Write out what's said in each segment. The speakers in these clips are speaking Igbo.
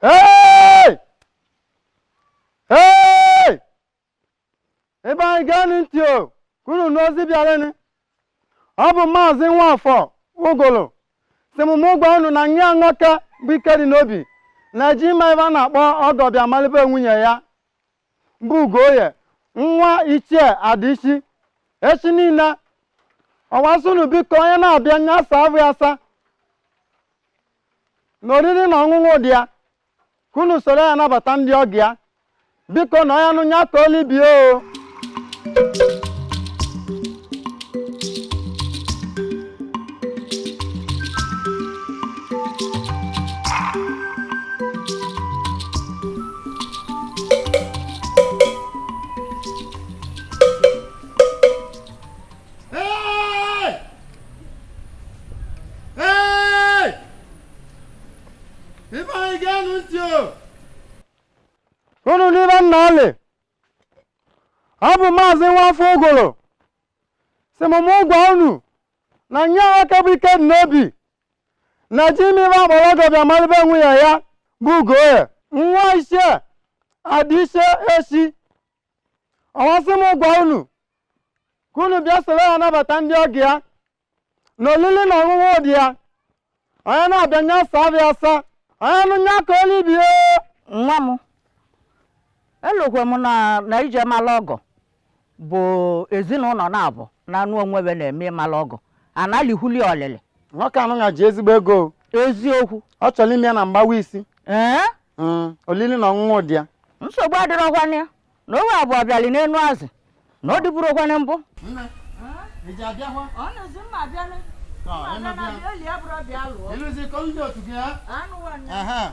Hey! Hey! Ibe anyị geenụ ntị o, ka unu nụ ozi bịalịnụ. Ọ bụ maazị Nwafọ Ogolo sị m mụ gwa unu na nwa ya nwoke bụ Ikedinobi na-eje ime ihe a na-akpọ ọgọ bịa malị be nwunye ya bụ Ugoye nwa Ichie Adichie echi niile ọ wa sị unu biko onye na-abịa nya saa ahụ ya asa na oriri na ọṅụṅụ dị ya ka unu soro ya nabata ndị ọgọ ya biko na onye nụ ya kọọlị ibe ya o unu n'ibe nna ọlị ọ bụ maazị Nwafọ Ogolo sị m mụ gwa unu na nwa ya nwoke bụ Ikedinobi na-eje ime ihe a kpọlọ ọgọ bịa mara be nwunye ya bụ Ugoye nwa Ichie Adichie echi ọ wa sị m gwa unu ka unu bịa soro ya nabata ndị ọgọ ya na olili na ọṅụṅụ dị ya onye na-abịa nya saa ahụ ya asa onye nụ nya kọọlị ibe ya nwa m elokwe m na na ije mala ọgọ bụ ezinụlọ naabọ na-anụ onwe be na-eme ịmala ọgọ a na-elikwulu ya olili nwoke anụ na ji ezigbo ego o. eziokwu ọ chọrọ ime ya na mgbawa isi ee Mm, olili na ọṅụṅụ dị ya nsogbu adịrọkwanụ ya na owe abụọ bịali n'enu azị na ọ dịburukwanụ mbụ Aha.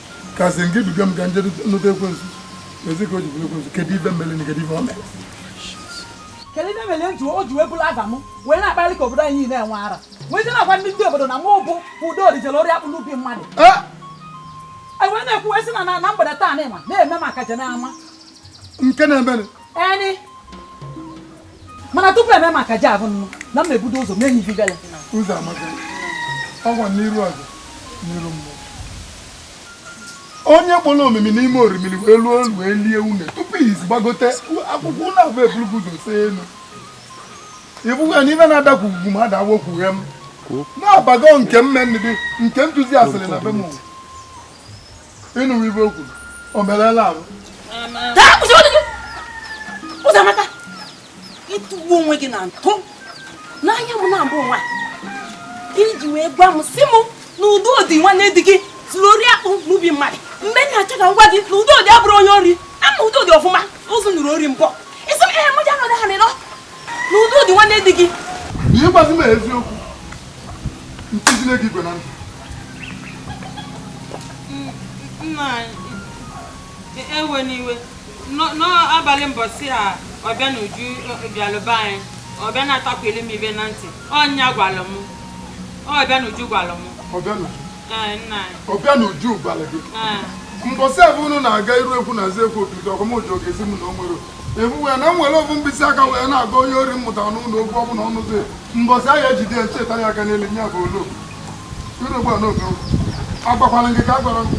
kasị nke duga m ka m je nụta ekwensu ezi ka o ji bụrụ ekwensu kedu ife m melụ na kedu ife o mere kedu ife m melụ ntu o ji wee buru afa m wee na-akpali ka obodo anyị na-enwe ara wee je na-agwa ndị ndị obodo na mụ bụ Udo jere ori akpụ n'ubi mmadụ e wee na-ekwu wee sị na na mgbede taa na ịma na-eme maka je na-ama nke na-emenụ mana tupu e mee maka ji abụ nnụ na m ebudo ụzọ mee ihe gala ụzọ amaka ọgwa n'iru ọzọ n'iru mmụọ onye kpọrọ omimi n'ime orimiri wee luo olu wee lie une tupu izi gbagote akwụkwọ ụlọ abụ ebulugo ụzọ see elu ị fụghị na ife na-adakwu ugwu ma ada awokwughe m na-abago nke mmendị nke ntụzi asịrị na be m ịnụwa ibe okwu o merela ahụ ụzọamaka ịtụgbu onwe gị na ntụ n'anya m naabọ nwa iji wee gwa m si m na udodị nwanne di gị zuru ori akpụ n'ubi mmadụ mana achọ ka m gwa gị na udodị abụrọ onye ori ama m udodị ọfụma ụzụ nụrụ ori mbọ isi m ehe mụja nọdụ ha nịrọ na udodị nwanne di gị ihe gbazi m eziokwu ntizile gị igwe na ndụ nna ewena iwe n'abalị mbọsị a ọbịanuju bịalụ be anyị ọ bịa na-atakwuli m ive na ntị ọ nya gwalụ m ọbịanuju gwalụ m ọbịa na ọbịanuju gwara gị mbọsị ahụ unu na-aga iru egwu na-aza egwu otutu ọkọmoji ogezi m na o nwere ebu ya na nwere ofu mkpịsị aka wee na-aga onye ori mmụta n'ụlọ okwu ọ bụla ọnụzi mbọsị ahụ ejide ya cheta ya aka n'elu nya bụ olu iru egwu a n'oge agbakwala gị ka a gwara m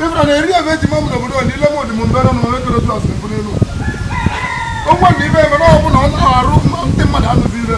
ịbụra na eri ebe eji ma mụ n'obodo ole ile mụdị m mbere na onye toro jọs mbụ n'elu ụgwọ na ibe ebe na ọ bụla ọ na-arụ ndị mmadụ anụzi ire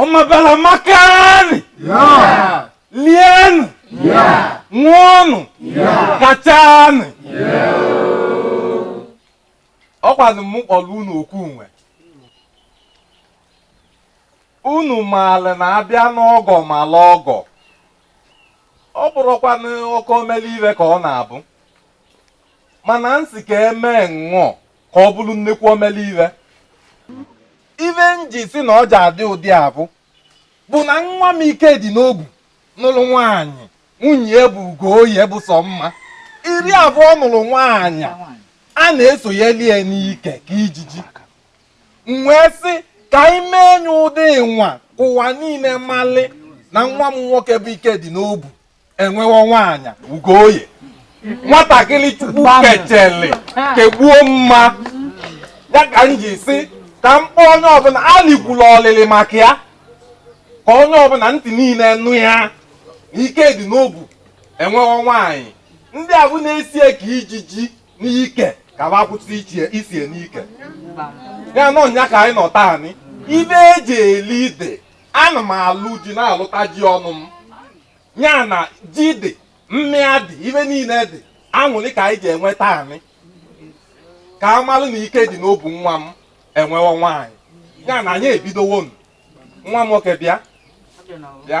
Ọmabala makanị. Yaa. Lienị. Yaa. Ṅụọnụ. Yaa. Kachanị. Yaa. Ọ kwanụ mụ kpọlụ unu oku nwa. Unu maara na abịa n'ọgọ malụ ọgọ. Ọ bụrọkwanụ oke omele ive ka ọ na-abụ. Mana m sị ka emee nnọọ. ka ọ bụrụ nnekwu omele ive ive m ji si na ọ ja-adị ụdị avụ bụ na nwa m ikedịnobu nụlụ nwaanyị nwunye ya bụ ugoye bụ sọ mma eri avụ ọ nụlụ nwaanyị a na-esonyeli ya n'ike ka ijiji m wee sị ka anyị mee nya ụdị nwa ka ụwa niile malị na nwa m nwoke bụ ikedịnobu enwewo nwaanyị ugoye nwatakịrị chukwu kechele kegbuo mma ya ka m ji si ka m kpọọ onye ọbụla alikwula olili maka ya ka onye ọbụla ntị niile nụ ya ikedịnobu enwewo nwaanyị ndị avụ na-eso ye ka ijiji n'ike ka va kwụsị iso ye n'ike ya nọ nya ka anyị nọ taanị ive eji eli ive ana m alụ ji na-alụta ji ọnụ m ya na ji dị mmịa dị ive niile dị aṅụrị ka anyị ga-enwe taanị ka a malụ na ikedịnobu nwa m enwewo nwaanyị ya na anyị ebidowo nụ. nwa m nwoke bịa bịa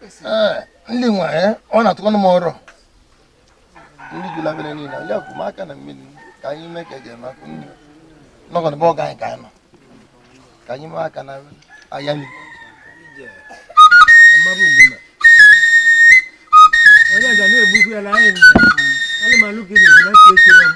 Eh, ndị nwa eh, ọ na-atụkwanụ m ọrụ ndị jụlabere niile ya kwụ m aka na mmiri ka anyị mee ka eji eme akụ nri nọgọ n'ebe ọga anyị ka anyị nọ ka anyị mee aka na aya nri onye ga na-egbukwu ya na anyị anụmanụ gị na-eche echere m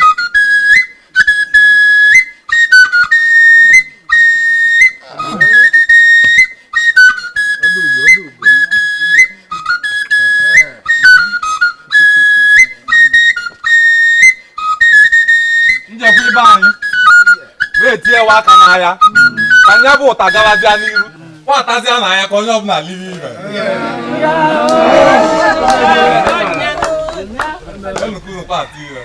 njekwa ibe anyị na-etinyewa aka n'ahịa ka nya bụ ụta gabazịa n'iru nwatazịa na ahịa ka onye ọbụla lie ive Enu ka unu kpaa ati ire.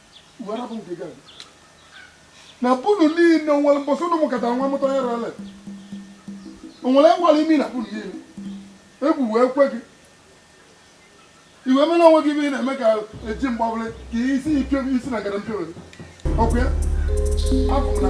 na be unu niile o nwere mbọsị ụnụ mụkọta nwa mụta onye rere onwere ngwara imi na be unu niile egwu wee kwe gị i wee mere onwe gị ive ị na-eme ka eji mgbabụrụ ka isi ike isi na gara mpio ọkụ ya Abụ na.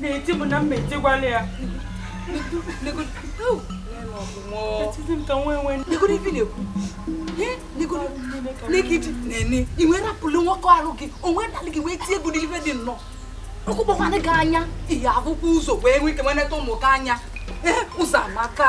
na-eti m na m ma etigwala ya negidi na-ene ị wee pụlụ nwoke arụ gị o wee dalụ gị wee tie gị ụdị ife dị nnọọ ọ kụkpọkwanụ gị anya ị ya-afụkwa ụzọ wee nwee ike wee neta ụmụ gị anya Ụzọamaka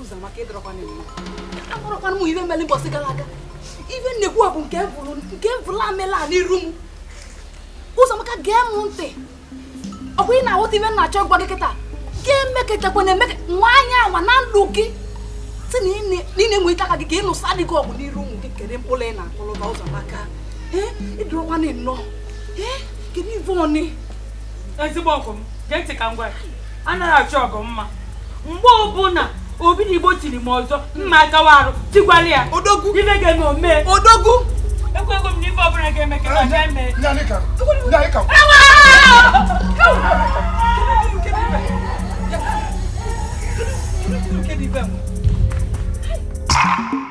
Ụzọamaka ịdọrọkwana mma akọrọkwanụ m ive mere mbọsị gara aga ive nnekwu a bụ nke bụrụ nke bụrụ amela n'iru m Ụzọamaka gee m ntị ọkwa ị na-aghọta ive m na-achọ ịgwa gị kịta ga-emekọtakwa na emeka anwana ya anwa na ndụ gị si na ị na-eweni aka gị ka ị nụsa di gị ọgụ n'iru ụmụ gị kedu mkpụrụ ị na-akụrụ ha Ụzọamaka ịdụrụkwana nnọọ kedu ive ọnị ezigbo ọgọ m gee ntị ka m gwa anaghị m achọ ọgụ ma mgbe ọbụla Obinigbo tiri m ọzọ m ma agawa arụ tigwara ya odogwu ife ga-eme omee odogwu ekwego m na ife ọbụla ga-eme ka ga eme Thank you.